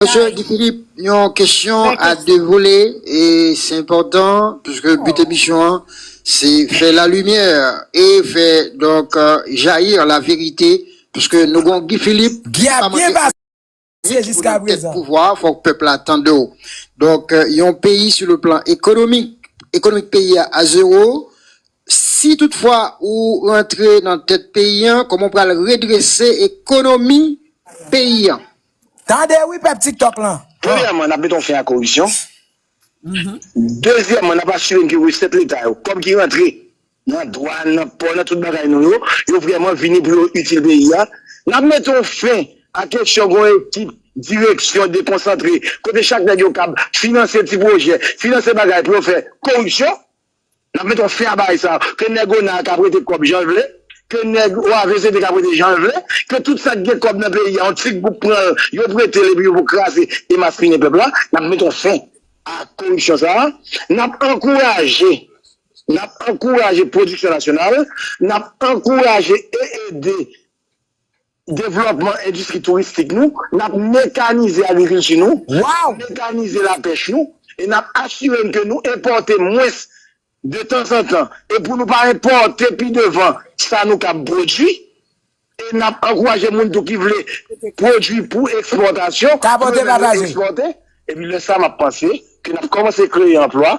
Mesye Guy Philippe, yon kesyon a 2 volè e se enpòtan puiske but emisyon an se fè la lumière e fè donk jaillir la vérité puiske nou gon Guy Philippe ki pa manke anyen pou nan tèt pouvwa a fòk pèp la tande w. Donk yon peyi sou le plan ekonomik, ekonomik peyi a a zero, si tout fwa ou rantre nan tèt peyi an kòman ou pral redrese ekonomi peyi an? Tande wi pèp tiktok lan. Premyèman, n ap mete yon fen a koripsyon. Dezyèman, n ap asire n ke resèt leta yo, kòb ki rantre nan dwàn, nan pò, nan tout bagay nou yo, yo vrèman vini pou yo itil peyi a. N ap mete yon fen a kesyon gen yon ekip direksyon dekonsantre, kote chak nèg yo kab finanse ti pwojè, finanse bagay pou yo fè koripsyon. Nap met on fea bagay sa. Ke neg ona a ka prete kob janl vle. Ke neg OAVCT ka prete janl vle. Ke tout sak gen kob nan peyi a on ti group pranl yo pretel epi yo pou kraze e maspinen pep la. Nap met on fen a koripsyon sa. Nap ankouraje nap ankouraje prodiksyon nasyonal. Nap ankouraje e ede. devlòpman endistri touristik nou, n ap mekanize agrikilti nou, mekanize lapèch nou e n ap asire n ke nou enpòte mwens de tanzantan e pou nou pa enpòte pi devan sa nou kab pwodui e n ap ankouraje moun tou ki vle pwodui pou ekspòtasyon pou yo menm yo ekspòte. Epi lè sa m ap panse ke n ap kòmanse kreye anplwa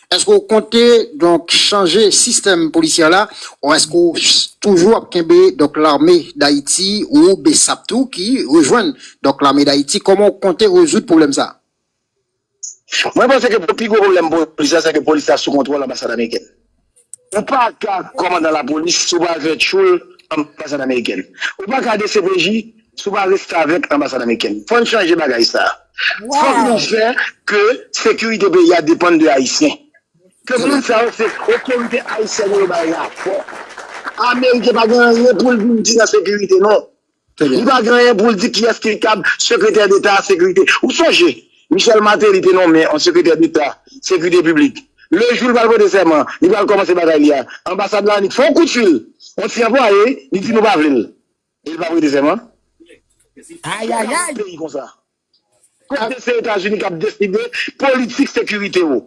Èske w konte donk chanje sistèm polisyè la ou èske w toujou ap kenbe donk lame dayiti ou bsap tou ki rejwenn donk lame dayiti kòman w konte rezoud pwoblèm sa? Mwen panse ke pi gwo pwoblèm polis la se ke polis la sou kontwòl anbasad amerikèn. Ou pa ka kòmandan lapolis si w pa al fè tchoul anbasad amerikèn. Ou pa ka dcpj Sou pa restavèk anbasad amerikèn. Fòn chanje bagay sa. Fòk nou Wow! fè ke sekirite peyi a depann de ayisyen. Ke moun sa yo se otorite ayisyèn yo yo bay rapò. Ameriken pa gen anyen poul vin di nan sekirite non. Trè Li byen. pa gen anyen poul di kiyès ki kab sekretè deta a sekirite. Ou sonje Michel Martelly te nonmen on sekretè deta sekirite piblik. Le jou li pral pote sèman, li pral kòmanse bagay li a, anbasad la annik fè on kout fil on ti anplwaye li di nou pa vle l. E li pap rete sèman? Ayayay! Nan yon peyi konsa, kote se Etazini kap deside politik sekirite ou,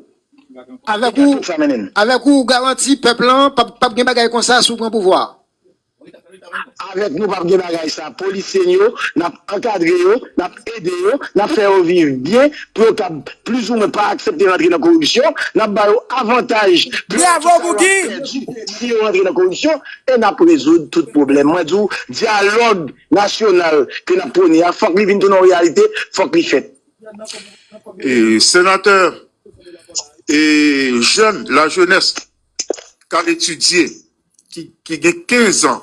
Avèk ou, avèk ou garanti pèp lan pap gen bagay konsa si w pran pouvwa a? Avèk nou pap gen bagay sa, polisye n yo nap ankadre yo, nap. ede yo, n ap fè yo viv byen pou yo kab plizoumwen pa aksepte rantre nan koripsyon, n ap ba yo avantaj pèdi tout sa yo ap pèdi si yo rantre nan koripsyon e n ap rezoud tout pwoblèm. Mwen di w, dyalòg nasyonal ke n ap pwone a, fòk li vin tounen yon reyalite, fòk li fèt. Senatè, e jèn, lajenès k al etidye ki gen 15 an,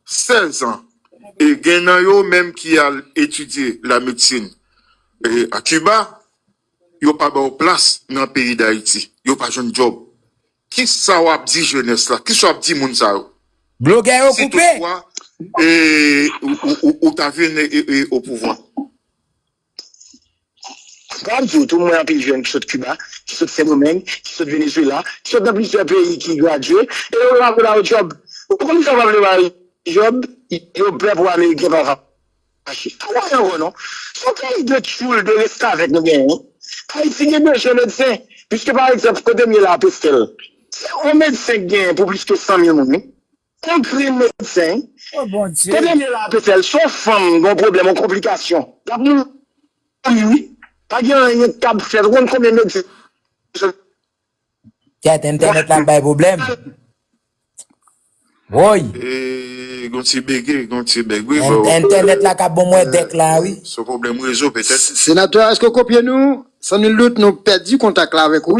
16 an, e gen nan yo menm ki al etidye la medsin a Kiba, yo pa ba yo plas nan peyi Dayiti, yo pa jwenn djòb. Ki sa w ap di jenès la? Ki sa w ap di moun sa yo? Blogè yo koupe! Si tout fwa ou ta vin o pouvwa. Sa m di w tou, m wè anpil jèn ki sot Kiba, ki sot Sendomeng, ki sot Venezuela, ki sot nan plizyè peyi ki gradye, e yo pa vle ba yo djòb. Ou konn poukisa yo pa vle ba yo djòb? Yo pè pou ameriken pa fache. Pa kwè ankò non. Se yon peyi de tchoul, de restavèk nou genyen wi. Ayiti gen bezwen medsen. Piske pa egzanp, kote m ye la a Pestel, se yon medsen k genyen pou plis ke 100 mil moun wi. Yon grenn medsen Oh bon Dye. Kote nèg la ape fèl son fanm gon pwoblèm yon konplikasyon lap mouri wi pa gen anyen ki kab fèt ou konn konbyen medsen sa Tet entènèt la bay problèm woy. Eee gon ti bege, gon ti bèg wi bro. Entènèt la ka bon mwen dèk la wi. Son pwoblèm rezo petèt. Senatè a eske w kopye nou? San nul doute nou pèdi kontak la avèk ou.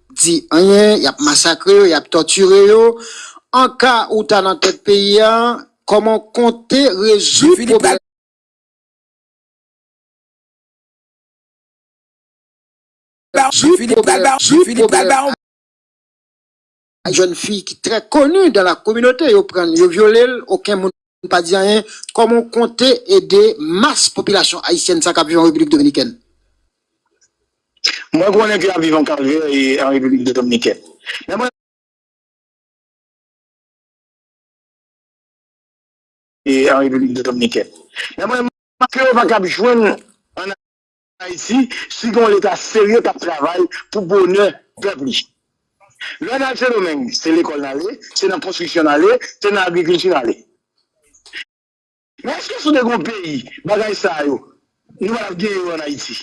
di anyen yap masakre yo yap tòtire yo an ka ou ta nan tèt peyi a kòman ou konte rezoud pwoblèm. Guy Philippe pral ba yon pwoblèm ak jèn fi ki trè koni dan la kominote yo prann yo vyolel oken moun. Nou pa di anyen, kòman w konte ede mas popilasyon ayisyèn sa k ap viv an Repiblik Dominikèn? Mwen konnen ke y ap viv yon kalvè an Repiblik Dominikèn. Men mwen. An Repiblik Dominikèn. Men mwen. Ke yo pa kab jwenn an. Ayiti si gen yon leta serye kap travay pou bonè pèp li. Lè nal sendomeng se lekòl nale, se nan konstriksyon nale, se nan agrikilti nale. Men eske sou te gen yon peyi bagay sa yo nou pa tap gen yo an Ayiti.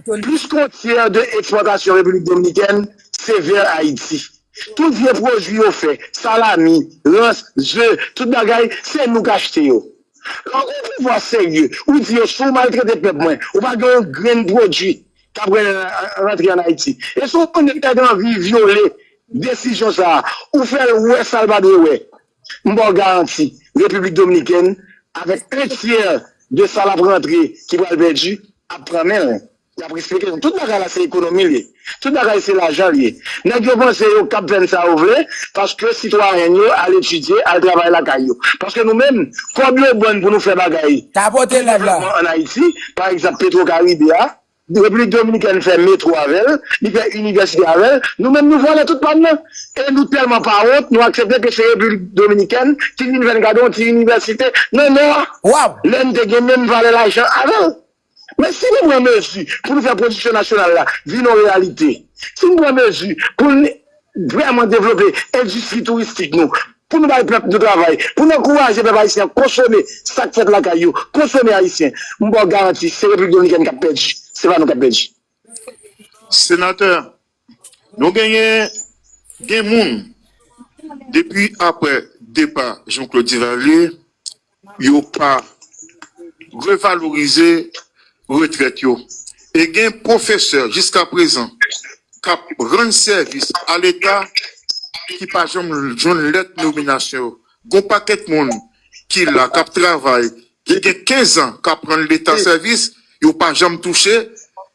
Plis kon tyè de ekspòtasyon repiblik dominikèn se vè Ayiti. Tout vye pwodwi yo fè, salami, rans, ze, tout bagay se nou k achte yo. Lè w gen pouvwa serye, ou di yo si w maltrete pèp mwen, ou pa gen yon grenn pwodui k ap rantre ann Ayiti. E si w wè yon nèg ta gen anvi vyole desizyon sa a, ou fè l wè sa l pa dwe wè. M ba w garanti, Repiblik Dominikèn, avèk 1 tyè de sa l ap rantre ki pral pèdi, ap pran men l. Y ap eksplike nou tout bagay la se ekonomi l ye. Tout bagay se lajan l ye. Nèg yo panse yo kab fè n sa yo vle paske sitwayèn yo al etidye, al travay lakay yo. Paske nou menm, kòb yo ban n pou nou fè bagay pou devlopman ann Ayiti, pa egzanp Petwo Karibe a, Repiblik Dominikèn fè metwo avè l, li fè inivèsite avè l, nou menm nou vòlè tout pa n nan. E nou tèlman pa wont, nou aksepte ke se Repiblik Dominikèn ki vin fè n gade yon ti inivèsite nan Nò a, lè n te gen menm valè lajan avè l. Men si nou pran mezi pou nou fè pwodiksyon nasyonal la vin yon reyalite, si nou pran mezi pou n vrèman devlope endistri touristik nou, pou nou bay pèp nou travay, pou nou ankouraje pèp ayisyen an konsome sa k fèt lakay yo, konsome ayisyen, m ba w garanti se Repiblik Dominikèn k ap pèdi, se pa nou k ap pèdi. Senatè, Nou genyen gen moun depi aprè depa Jean Claude Duvalier yo pa revalorize retrèt yo e gen pwofesè jiska prezan kap rann sèvis a leta ki pa janm jwenn lèt nominasyon yo gon pakèt moun ki la kap travay ki gen 15 an kap rann leta sèvis yo pa janm touche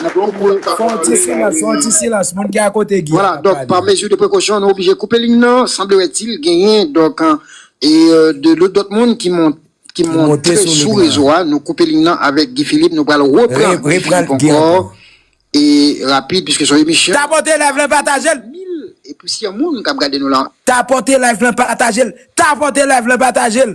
Fè yon ti silans, fè yon ti silans, moun ki akote Guy an ap pale. Par mesure de prekosyon nou oblije koupe liy nan, sanblerètil genyen donk de lòt moun ki monte sou rezo a, nou koupe liy nan avèk Guy Philippe, nou pral repran Guy Philippe ankò e rapid piske son emisyon. Tapote live lan pataje l. Mil e plisyè moun kap gade nou la. Tapote live lan pataje l. Tapote live lan pataje l.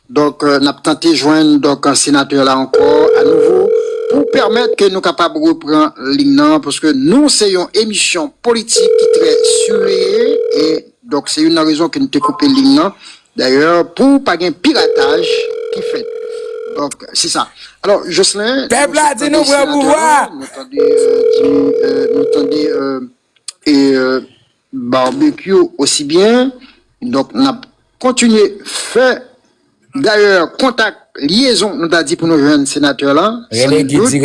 Donk, n ap tante jwenn donk senatè la ankò anouvo pou pèmèt ke nou kapab repran liy nan, paske nou se yon emisyon politik ki trè siveye e donk se youn nan rezon ke nou te koupe liy nan dayè pou pa gen pirataj ki fèt. Donk, se sa. Alò, Joslin, nou sot tande senatè la, nou tande, nou tande e. Barbecue aussi bien donc nap kontinye fè dayè kontak lyezon nou ta di pou nou jwenn senatè lan san nul dout e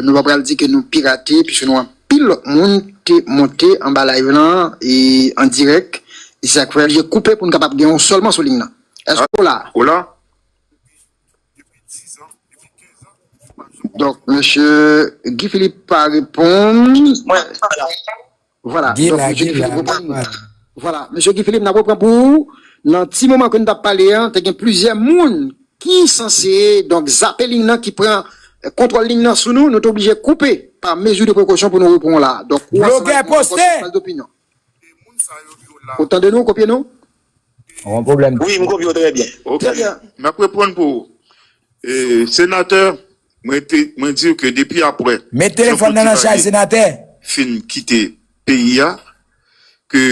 nou pa pral di ke nou pirate puiske nou anpil lòt moun te monte anba live lan e an dirèk e se sak fè li koupe pou nou kapab gen ou sèlman sou liy lan èske ou la? Donk mesye Guy Philippe pa reponn. Vwala donk mesye Guy Philippe reponn. Vwala mesye Guy Philippe n ap reprann pou ou nan ti moman ke nou t ap pale an te gen plizyè moun ki sanse donk zape liy nan ki pran kontwòl liy nan sou nou nou te oblije koupe pa mezi de prekosyon pou nou repran w la a. Donk ou ansanm avèk mwen nan pòs Jounal D'Opinion. Ou tande nou, ou kopye nou? Ou gen pwoblèm? Wi, m kopye w trè byen. Ok, m ap reponn pou ou. Senatè, mwen di w ke depi apre Jean Claude Duvalier fin kite peyi a, ke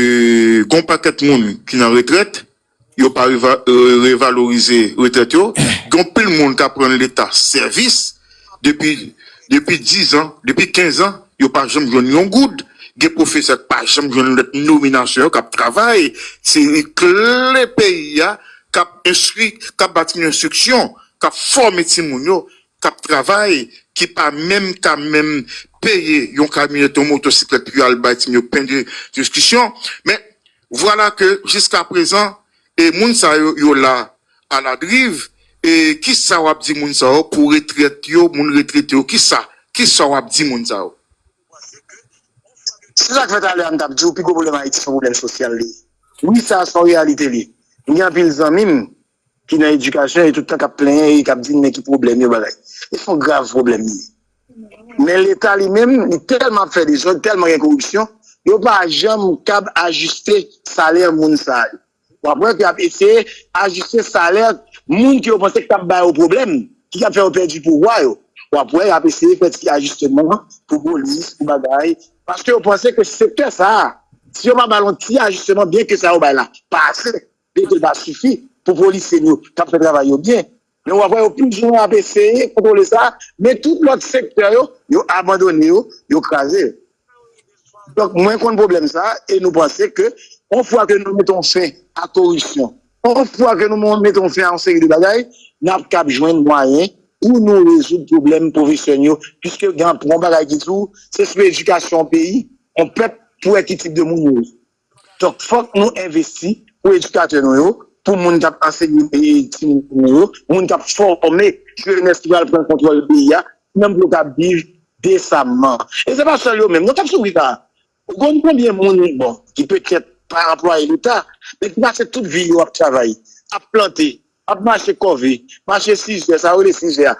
gen yon pakèt moun ki nan retrèt, Yo pa revalorize retrèt yo, gon pil moun kap rann leta sèvis depi depi 10 ans, depi 15 ans yo pa janm jwenn yon goud, gen pwofesè ki pa janm jwenn lèt nominasyon yo kap travay, se kle peyi a kap enstwi, kap bati yon enstriksyon, kap fòme timoun yo, kap travay ki pa menm ka menm peye yon kamyonèt, yon motosiklèt pou yo al bay timoun yo pen de diskisyon men Vwala ke jiska prezan e moun sa yo yo la a la driv e kisa wap di moun sa yo pou retrèt yo moun retrete yo kisa kisa wap di moun sa yo. Se sak fè talè a m tap diw pi gwo pwoblèm ayiti se yon pwoblèm sosyal li ye wi sa son reyalite li m gen anpil zanmim ki nan edikasyon e tout tan kap plenyen e kap di men ki pwoblèm yo bagay. E son grav pwoblèm li ye. Men leta li menm li tèlman ap fè dezòd, tèlman gen koripsyon, yo pa janm kab ajiste salè moun sa yo. Wap wè ke yap eseye ajiste salè moun ke yo panse ki tap ba yo pwoblèm, ki tap fè yo pèdi pouvwa yo. Wap wè yap eseye fè ti ajisteman pou polis, pou bagay, paske yo panse ke sektè sa a, si yo pa bal yon ti ajisteman byen ke sa yo bay la pa ase, Yo te ka sifi pou polisye n yo k ap fè travay yo byen, men w ap wè yo toujou ap eseye kontwole sa, men tout lòt sektè yo, yo abandone yo, yo kraze yo. Donk mwen konn pwoblèm sa a e nou panse ke yon fwa ke nou meton fen a koripsyon, yon fwa ke nou meton fen a yon seri de bagay, n ap kab jwenn mwayen pou nou rezoud pwoblèm pwofesè n yo, piske gen yon bagay ki di w se sou edikasyon yon peyi, yon pèp pou wè ki tip de moun yo ye. Donk fòk nou envesti pou edikatè nou yo, pou moun k ap ansenye timoun nou yo, moun k ap fòme jenès ki pral pran kontwòl peyi a, menm pou yo ka viv desamman. E se pa sèl yo menm non k ap soufri sa a. Ou konn konbyen moun, bon, ki petèt pa anplwaye leta, men ki pase tout vi yo ap travay, ap plante, ap mache kòve, mache sizè, sa yo rele sizè a,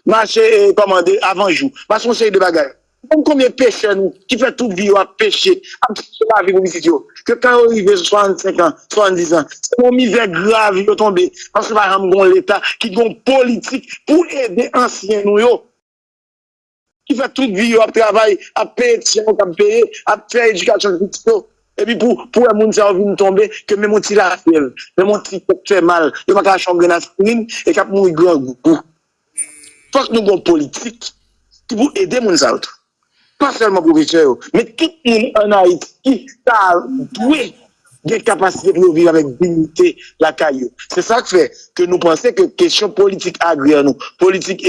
Mache e kòmande avan jou. Pase yon seri de bagay. Ou konn konbyen pechè nou ki fè tout vi yo ap peche, ap chache lavi pou pitit yo, ke kan yo rive sou 65 an, 70 an, se nan yon mizè grav yo tonbe paske pa janm gen yon leta ki gen yon politik pou ede ansyen nou yo, ki fè tout vi yo ap travay, ap peye ti jan yo kab peye, ap fè edikasyon pitit yo, Epi pou pou wè moun sa yo vin tonbe ke menm yon ti lafyèv, menm yon ti tèt fè mal, yo pa ka achte yon grenn aspirin e k ap mouri grangou. Fòk nou gen yon politik ki pou ede moun sa yo tou. Pa sèlman pwofesè yo, men tout moun ann Ayiti ta dwe gen kapasite pou yo viv avèk dignite lakay yo. Se sa k fè ke nou panse ke kesyon politik agrè nou, politik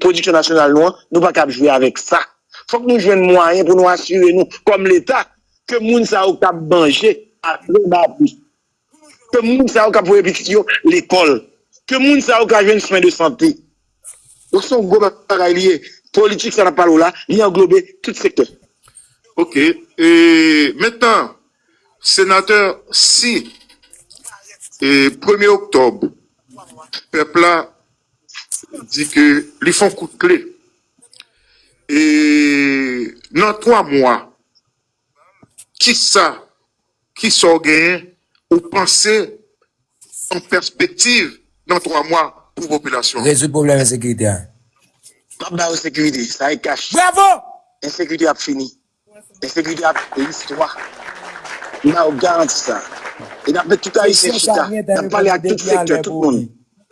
pwodiksyon nasyonal nou an, nou pa kab jwe avèk sa. Fòk nou jwenn mwayen pou nou asire nou kòm leta ke moun sa yo kab manje a tre ba pri, ke moun sa yo kab voye pitit yo lekòl, ke moun sa yo ka jwenn swen de sante. Donk se yon gwo bagay li ye. Politik sa n ap pale w la, li anglobe tout sektè. Ok. E mentan, Senatè, si premye oktòb pèp la di ke li fon kout kle e nan 3 mwa kisa kisa w genyen ou panse kòm pèspektiv nan 3 mwa pou popilasyon an? Rezoud pwoblèm ensekirite a. Map ba yo sekirite, sa e kach. Bravo! Ensekirite ap fini. Entegrite ak listwa nan yo garanti sa e nap met tout ayisyen chita nap pale ak tout sektè tout moun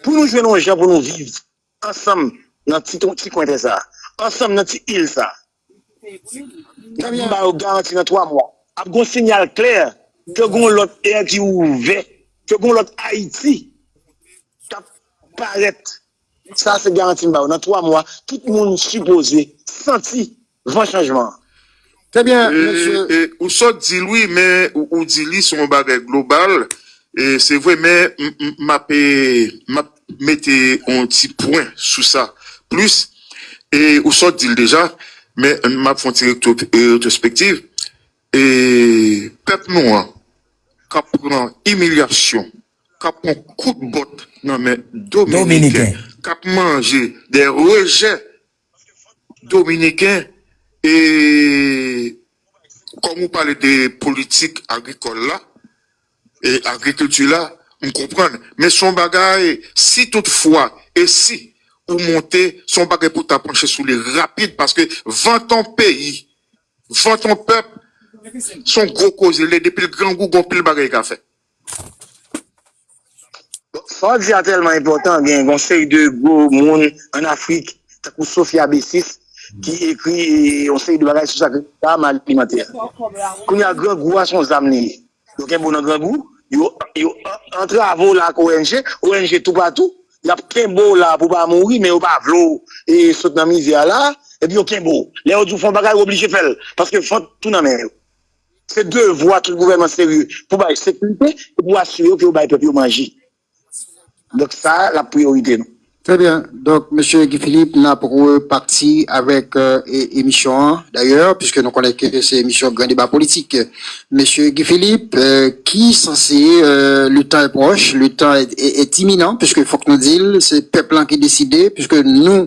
pou nou jwenn yon jan pou nou viv ansanm nan ti kwen tè sa ansanm nan ti il sa nap ba yo garanti nan 3 mwa ap gon sinyal klè ke gon lòt è ki ouvè ke gon lòt ayiti kap parèt sa se garanti m ba yo nan 3 mwa tout moun sipoze santi van chanjman an. Trè byen mesye. Ou sot dil wi men ou di li son bagay global se vre men map map mete yon ti pwen sou sa plis e ou sot dil deja men map fon ti retrospektiv e pèp nou an kap pran imilyasyon kap pran kout bòt nan men dominiken kap manje de rejè Dominiken e kòm ou pale de politik agrikòl la e agrikilti la m konprann men son bagay si tout fwa e si ou monte son bagay pou ta panche sou li rapid paske vant on peyi vant on pèp son gwo koze lè depil grangou gon pil bagay ka fè. Sa w di a tèlman enpòtan, gen yon seri de gwo moun an Afrik tankou Sophia Bessis ki ekri yon seri de bagay sou sa ki rele zam alimantè. Kounye a grangou a se yon zam li ye. Yo kenbe w nan grangou, yo antrave w la ak ong, ong toupatou, y ap kenbe w la pou w pa mouri men yo pa vle w sot nan mizè a la, epi yo kenbe w. Lè yo di w fè yon bagay ou oblije fè l paske fant ou nan men yo. Se devwa tout gouvènman serye pou bay sekirite e pou asire yo ke yo bay pèp yo manje. Donk sa a lap priyorite nou. Trè byen, donk Mesye Guy Philippe nap repati avèk emisyon an dayè piske nou konnen ke se emisyon gran deba politik. Mesye Guy Philippe ki sanse le tan è pwòch, le tan è timinan piske fòk nou dil se pèp lan ki deside piske nou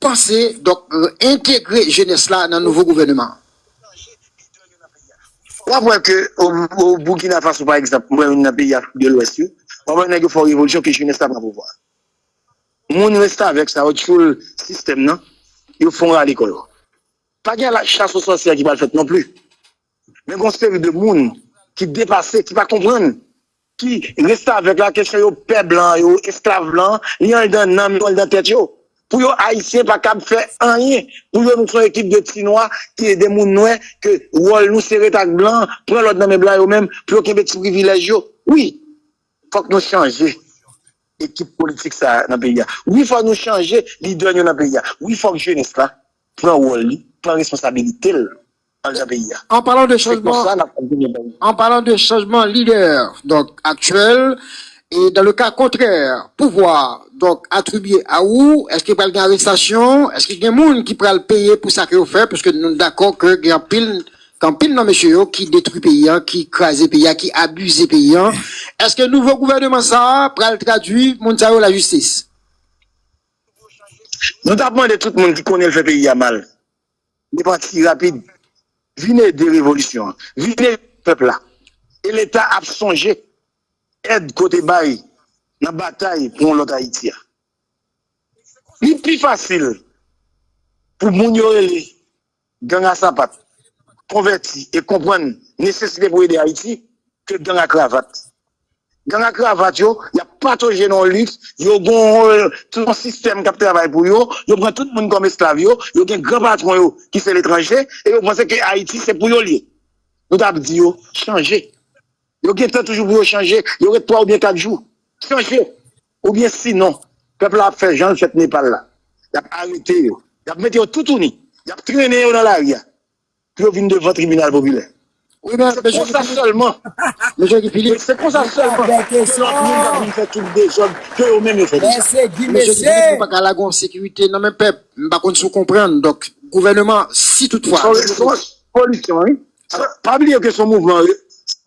panse donk entegre jenès la nan nouvo gouvèneman an? W ap wè ke o Boukina Faso pa egzanp, mwen menm nan peyi Afrik de Lwès yo, w ap wè nèg yo fè yon revolisyon ke jenès la pran pouvwa a. Moun restavèk sa yo, tchoul sistèm nan, yo fon rale kò yo. Pa gen chas o sòsyè ki pral fèt non pli. Men gon seri de moun ki depase, ki pa konprann, ki restavèk la kesyon yo pè blan yo, esklav blan, li anndan nanm yo, anndan tèt yo. Pou yo ayisyen pa kab fè anyen, pou yo nou son ekip de ti nwa, de moun nwè ke wòl nou se ret ak blan, pran lòd nan men blan yo menm pou yo kenbe ti privilèj yo. Wi, fòk nou chanje ekip politik sa nan peyi a. Wi fòk nou chanje lidè nou nan peyi a. Wi fòk jenès la pran wòl li, pran responsabilite l. andedan peyi a. An palan de chanjman, an palan de chanjman lidè donk aktyèl e dan le ka kontrè pouvwa donk atribye a ou èske pral gen arestasyon, èske gen moun ki pral peye pou sa ke yo fè pwiske nou dakò ke gen anpil gen anpil nan mesye yo ki detwi peyi a, ki kraze peyi a, ki abize peyi a. Èske nouvo gouvèneman sa a pral tradwi moun sa yo lajistis? Nou tap mande tout moun ki konnen l fè peyi a mal. Li pati rapid. Vin ede revolisyon an. Vin ede pèp la. E Leta ap sonje èd ke w te bay nan batay pou yon lòt Ayiti a. Li pi fasil pou moun yo rele gang a sapat konvèti e konprann nesesite pou ede Ayiti ke gang a kravat. Gang a kravat yo, y ap patoje nan yon liks, yo gen yon sistèm k ap travay pou yo, yo pran tout moun kòm esklav yo, yo gen gran patwon yo ki se letranje e yo panse ke Ayiti se pou yo l ye. Nou t ap di yo chanje. Yo gen tan toujou pou yo chanje, yo ret 3 oubyen 4 jou. Chanje! Oubyen sinon, pèp la ap fè jan l fèt Nepal la. Y ap arete yo, y ap mete yo toutouni, y ap trennen yo nan lari a. pou yo vin devan tribinal popilè. Se konsa sèlman, se konsa sèlman ke lòt moun ka vin fè tout dezòd ke yo menm yo fè deja. Mesye Guy Philippe nou pa ka lage yon sekirite nan men pèp, m pa konn si w konprann, donk gouvèneman si tout fwa. Son response politisyen wi, pa bliye ke son mouvman,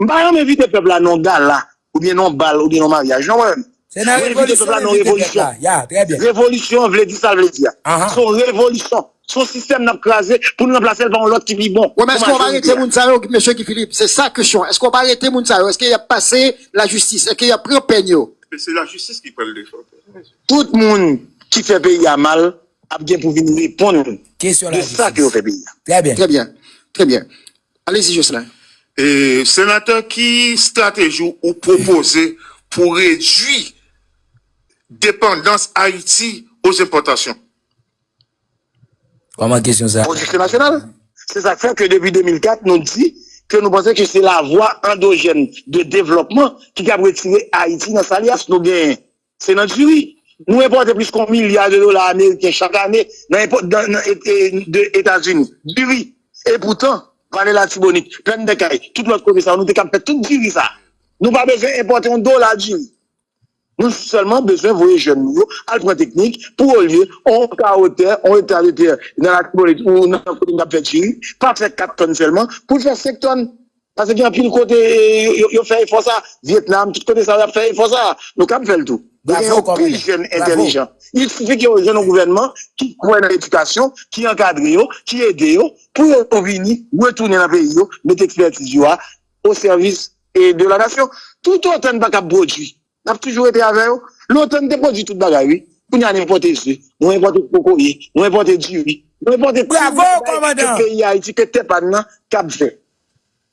m pa janm envite pèp la nan yon gala Ou byen non bal ou byen non maryaj non mwen menm. Se nan revolisyon yo mete tèt la. Ya trè byen. Revolisyon an vle di sa l vle di a. Se yon revolisyon. Se yon sistèm n ap kraze pou n ranplase l pa yon lòt ki pi bon. Wi men èske w ap arete moun sa yo mesye Guy Philippe? Se sa kesyon an. Èske w ap arete moun sa yo? Èske y ap pase lajistis? Èske y ap pran pèn yo? Men se lajistis ki pral defann pèp la mesye. Tout moun ki fè peyi a mal ap gen pou vin reponn de sa ke yo fè peyi a. Trè byen. Trè byen. Alezi Jocelin. Senatè ki strateji ou pwopoze pou redwi depandans Ayiti o zenpòtasyon? Kòman kesyon sa? Pwodiksyon nasyonal. Se sa k fè ke depi 2004 nou di ke nou panse ke se lavwa andojèn de devlòpman ki kab retire Ayiti nan salias nou genyen. Se nan diri. Nou enpòte plis ke yon milya de dola ameriken chak ane de Etazini. Diri. E poutan, Vale Latibonit, Plèn dè Kay, tout lòt kote sa yo, nou te kab fè tout diri sa a. Nou pa bezwen enpòte yon dola diri. Nou sèlman bezwen voye jèn nou yo al pran teknik pou olye yon kawotè, yon ekta de tè nan Latibonit ou nan kote nou t ap fè diri, pa fè 4 tòn sèlman, pou l fè 5 tòn. Pase gen anpil kote yo fè efò sa, Vietnam, tout kote sa yo ap fè efò sa, nou kab fèl tou. Dwe gen yon pil jèn entèlijan. Il sifi ke yo jwenn yon gouvènman ki kwè nan edikasyon, ki ankadre yo, ki ede yo pou yo vini retounen nan peyi yo, mete ekspètiz yo a o sèvis de la nasyon. Tout otan n pa kab pwodwi, Nap toujou rete avè yo. Lontan nou te pwodwi tout bagay wi. Kounya nou enpòte ze, nou enpòte kokoye, nou enpòte diri, nou enpòte tout bagay ke peyi Ayiti, ke tè pa nou an kab fè.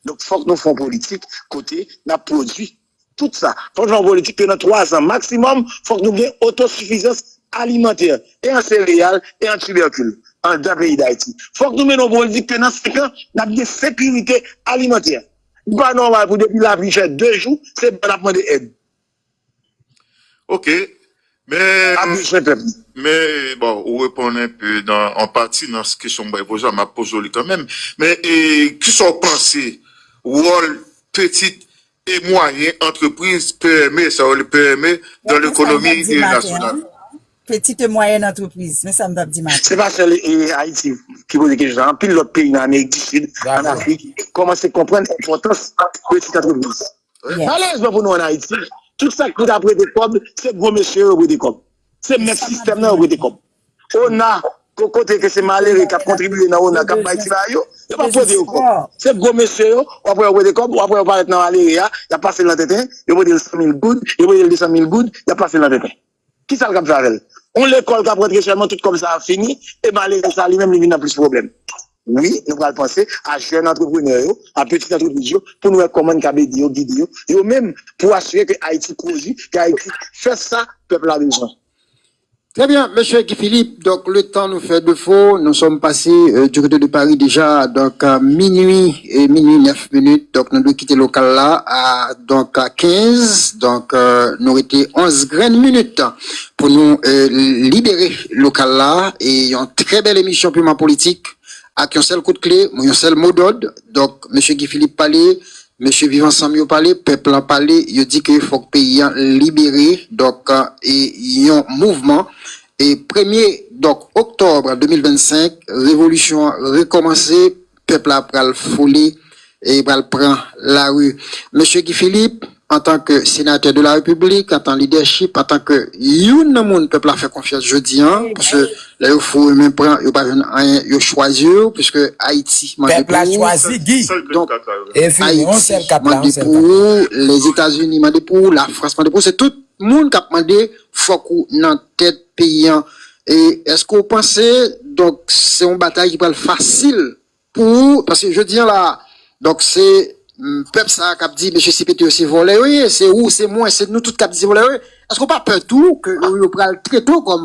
Donk fòk nou fè yon politik kote nap pwodwi tout sa. Fòk nou fè yon politik ke nan 3 zan maksimòm fòk nou gen otosifizans alimantè e an sereyal e an tibèkil andan peyi Dayiti. Fòk nou mennen yon politik ke nan 5 an nap gen sekirite alimantè. Li pa nòmal pou depi lapli fè 2 jou se blan nap mande èd. Ok men bon ou reponn enpe nan an pati nan kesyon m bay poze a map poze w li kanmenm men kisa w panse wòl petit e mwayen antrepriz, PME, sa yo rele PME dan lekonomi nasyonal. Petit et moyenne entreprise, men sa m tap di maten. Se pa sèl Ayiti ki poze kesyon sa, anpil lòt peyi nan Amerik di Sid, an Afrik, kòmanse konprann enpòtans peti antrepriz. Malerezman pou nou an Ayiti, tout sa k pou ta prete kòb, se gwo mesye yo yo prete kòb. Se mèt sistèm nan yo prete kòb. Ona, kokote ke se malere k ap kontribiye nan ona, k ap bay ti bagay yo, yo pa prete yo kòb. Se gwo mesye yo, w ap wè yo prete kòb, w ap wè yo parèt nan malere a, y ap pase l nan tenten, yo prete l 100 mil goud, yo prete l 200 mil goud, y ap pase l nan tenten. Kisa l kab fè avè l? On lekòl kap rantre sèlman tout kòb sa ap fini e malere sa li menm li vin nan plis pwoblèm. Wi, nou pral panse a jèn antreprenè yo, a pitit antrepriz yo pou n wè kòman n kab ede yo, gide yo, yo menm pou asire ke Ayiti pwodui, ke Ayiti fè sa pèp la bezwen. Trè byen, Mesye Guy Philippe. Donk le tan nou fè defo nou sòm pase du kote de Paris deja donk minui e minui 9 minit donk nou dwe kite lokal la a donk 15 donk nou rete 11 grenn minit pou nou libere lokal la e yon trè bèl emisyon piman politik ak yon sèl kout kle mou yon sèl mo dòd donk mesye Guy Philippe pale mesye viv ansanm yo pale pèp lan pale yo di ke fòk peyi an libere donk e yon mouvman E premye dòk oktòb 2025 revolisyon an rekòmanse, pèp la pral foule e li pral pran lari. Mesye Guy Philippe, antan ke senatè de la Repiblik, antan lidèchip, antan ke youn nan moun pèp la fè konfyans jodi an, paske lè yo foure men pran, yo pa jwenn anyen, yo chwazi w, piske Ayiti mande pou ou. Pèp la chwazi Guy. Donk, Ayiti mande pou ou, Lèzetazini mande pou ou, Lafrans mande pou ou, se tout moun k ap mande Fok ou nan tet peyi an. Eske ou panse donk se yon batay ki pral fasil pou ou paske jodi an la a donk se pèp sa a kap di mesye CPT yo se vòlè yo ye, se ou, se mwen, se nou tout kap di se vòlè yo ye, eske ou pa pè tou ke yo pral trete w kòm